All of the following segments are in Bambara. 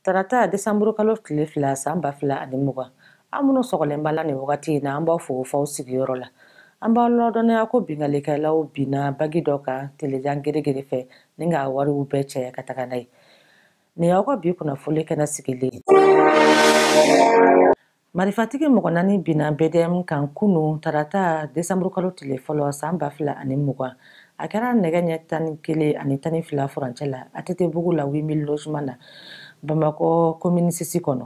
tarata desanburu kalo tile fila san ba fila ani mugan an minnu sɔgɔlen b'a la nin wagati in na an b'aw fo f'aw sigiyɔrɔ la an b'aw ladɔnniya ko binkalikɛlaw binna banki dɔ kan telejan geregere fɛ ni k'a wariw bɛɛ cɛ ka taga n'a ye nin y'aw ka bi kunnafoli kɛnɛ sigilen marifatigi mɔgɔ naani binna bdm kan kunu tarata desanburukalo tile fɔlɔ san ba fila ani mugan a kɛra nɛgɛ ɲɛ tan ni kelen ani tan ni fila furancɛ la atetebugu la huit mille logements na bamakɔ commune six kɔnɔ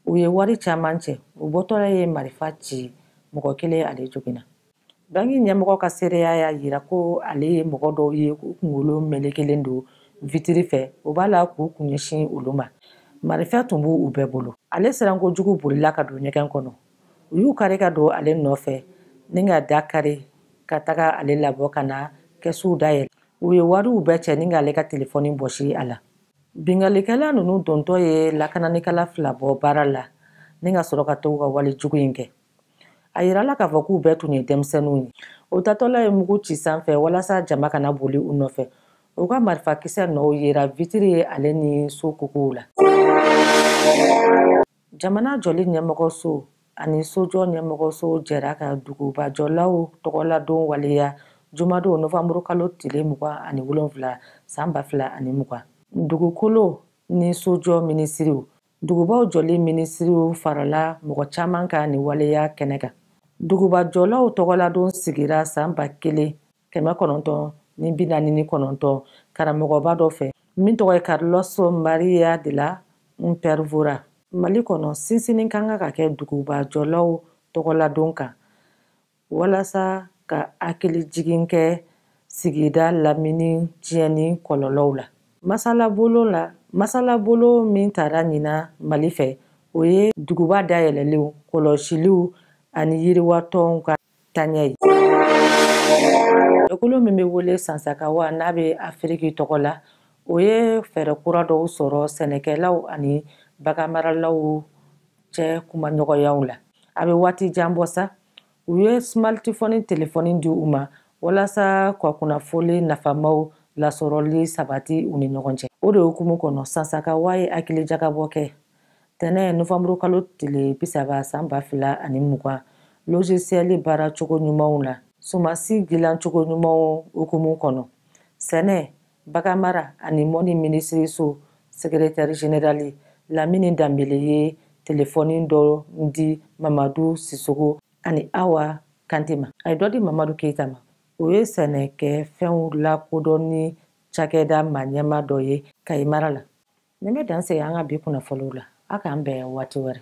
u ye wari caman cɛ u bɔtɔla ye marifa ci mɔgɔ kelen ale joginna banki ɲɛmɔgɔ ka seereya y'a jira ko ale ye mɔgɔ dɔw ye k'u kunkolo melekelen don vitiri fɛ u b'a la k'u kun ɲɛsin olu ma marifa tun b'u bɛɛ bolo ale siranko jugu bolila ka don ɲɛgɛn kɔnɔ u y'u kari ka don ale nɔfɛ ni ka da kari ka taga ale labɔ ka na kɛsuw dayɛlɛ u ye wariw bɛɛ cɛ ni k'ale ka telefɔni bɔsi a la binkalikɛla ninnu dontɔ ye lakananikɛla fila bɔ baara la ni ka sɔrɔ ka t'u ka wale jugu in kɛ a yirala k'a fɔ k'u bɛɛ tun ye denmisɛnninw ye u taatɔla ye mugu ci sanfɛ walasa jama kana boli u nɔfɛ u ka marifakisɛ nɔw yera vitiri ye ale ni so kokow la jamana jɔli ɲɛmɔgɔso ani sojɔ ɲɛmɔgɔso jɛra ka dugubajɔlaw tɔgɔladon waleya jumadon novanburu kalo tile mugan ani wolonfila san ba fila ani mugan dugukolo ni sojɔ minisiriw Dugubaw jɔli minisiriw farala mɔgɔ caman kan nin waleya kɛnɛ kan. Duguba jɔlaw tɔgɔladon sigira san ba kelen kɛmɛ kɔnɔntɔn ni bi naani ni kɔnɔntɔn karamɔgɔba dɔ fɛ min tɔgɔ ye Carlos Maria della Paolera. Mali kɔnɔ, sinsinni ka kan ka kɛ duguba jɔlaw tɔgɔladon kan. walasa ka hakili jigin kɛ sigida lamini tiɲɛni kɔlɔlɔw la masalabolo min tara ɲina mali fɛ o ye duguba dayɛlɛlenw kɔlɔsiliw ani yiriwatɔnw ka taɲɛ ye jɛkulu min bɛ wele sasakawa n'a bɛ afiriki tɔgɔ la o ye fɛɛrɛ kura dɔw sɔrɔ sɛnɛkɛlaw ani baganmaralaw cɛ kumaɲɔgɔnyaw la a bɛ waati jan bɔ sa u ye smartphone telefɔni di u ma walasa ka kunnafoli nafamaw lasɔrɔli sabati u ni ɲɔgɔn cɛ o de hukumu kɔnɔ sasakawa ye hakilijagabɔ kɛ tɛnɛ novanburu kalo tile bisaba san ba fila ani mugan logiciel baara cogo ɲumanw na sumansi dilan cogo ɲumanw hukumu kɔnɔ sɛnɛ Baganmara ani mɔnni minisiriso sekeretɛri jenerali lamini danbele ye telefɔni dɔ di mamadu sisoko ani awa kante ma a ye dɔ di mamadu keyita ma o ye sɛnɛkɛfɛnw lakodɔnni cakɛda maaɲɛma dɔ ye kayi mara la nin bɛ dan sigi an ka bi kunnafoniw la a k'an bɛn waati wɛrɛ